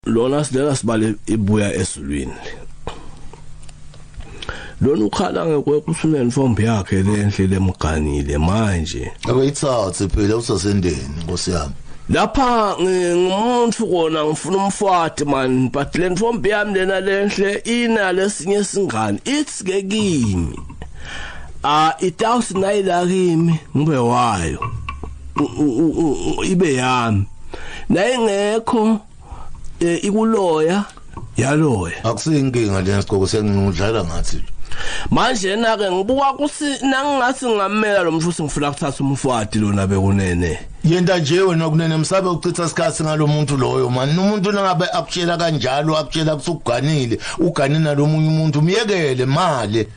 lona silela sibale ibuya ezulwini lona ukhala ngekwekusumeni fombi yakhe lenhle lemganile manje akuyithathe phela usasendeni nkosi yami lapha ngimuntu kona ngifuna umfati man but le ntombi yami lena lenhle ina lesinye singane it's ke kimi a itawusi nayila kimi ngibe wayo ibe yami naye ngekho eh, ikuloya yaloya akusiyinkinga lena sigqoko senginudlala ngathi manje na ke ngibuka kusi nangingasi ngamela lo mshusi ngifuna kuthatha umfwadi lona bekunene yenta nje wena kunene msabe uchitha isikhathi ngalomuntu loyo mani nomuntu nangabe akutshela kanjalo akutshela kusukuganile uganina lomunye umuntu myekele mali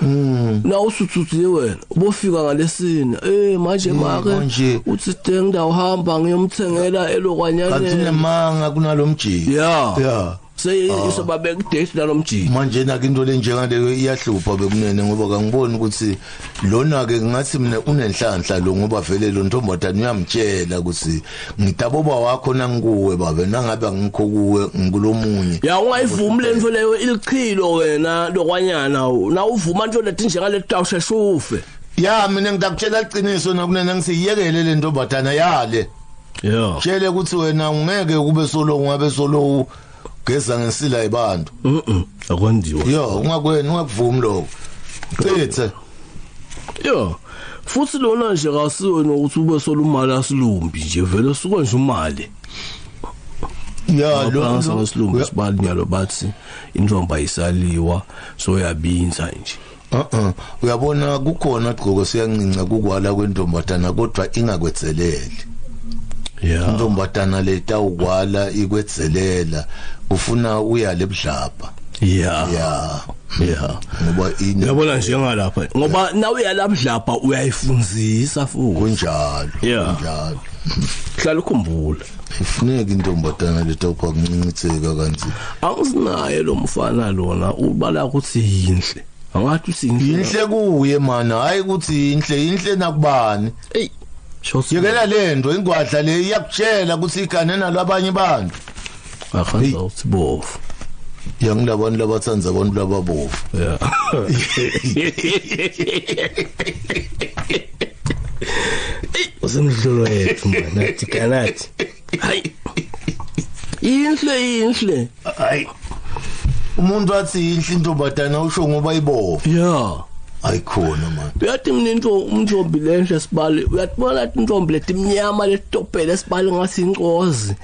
Mm. Na usuthuthile wena. Ubofika ngalesini. Eh manje mm, make manje uthi deng ndawo hamba ngiyomthengela elokwanyane. Kanti nemanga kunalomjiki. Yeah. Yeah. seyisoba ah. bekudate nalomjini manje na into lenjengaleyo iyahlupha bekunene ngoba kangiboni ukuthi lona ke ngathi mina unenhlanhla lo ngoba vele lo ntombazana uyamtshela ukuthi ngidaboba wakho nangikuwe babe nangabe angikho kuwe ngikulomunye ya ungayivumi lento leyo ilichilo wena lokwanyana na uvuma into lethi njengale tawushe shufe ya mina ngidakutshela iqiniso nakunena ngisiyekele lento badana yale yeah tshele ukuthi wena ungeke kube solo ungabe solo geza ngensila yebantu mhm akwenziwa yo ungakweni ungakuvumi lokho cithe yo futhi lona nje kasiwe nokuthi ube solumali asilumbi nje vele suka nje umali ya lo sasilumbi sibali nyalo bathi intombi ayisaliwa so yabinza nje Uh-uh. Uyabona kukhona gqoko siyancinca kukwala kwentombazana kodwa ingakwetheleli. Yeah. Intombazana letawukwala ikwetzelela ufuna uyale ebudlapha. Yeah. Yeah. Yeah. Ngoba ini Uyabona njengalapha ngoba nawe yalabudlapha uyayifunzisa futhi. Kunjalo. Kunjalo. Hlala ukhumbula. ifuneka intombazana lethu kwa kuncinciseka kanti awusinaye lo mfana lona ubala ukuthi yinhle angathi usinhle yinhle kuye mana hayi ukuthi yinhle yinhle nakubani hey yekela lento ingwadla le iyakutshela ukuthi igane nalo abanye abantu akhanda uthi bovu yangilabantu labathanda abantu lababovu yeah usemdlolo wethu manje athi kanathi hayi inhle inhle hayi umuntu athi inhle intombazana usho ngoba ibovu yeah ayikhona manje uyathi mina into umntombi lenhle sibali uyatibona intombi letimnyama letopele sibali ngathi incozi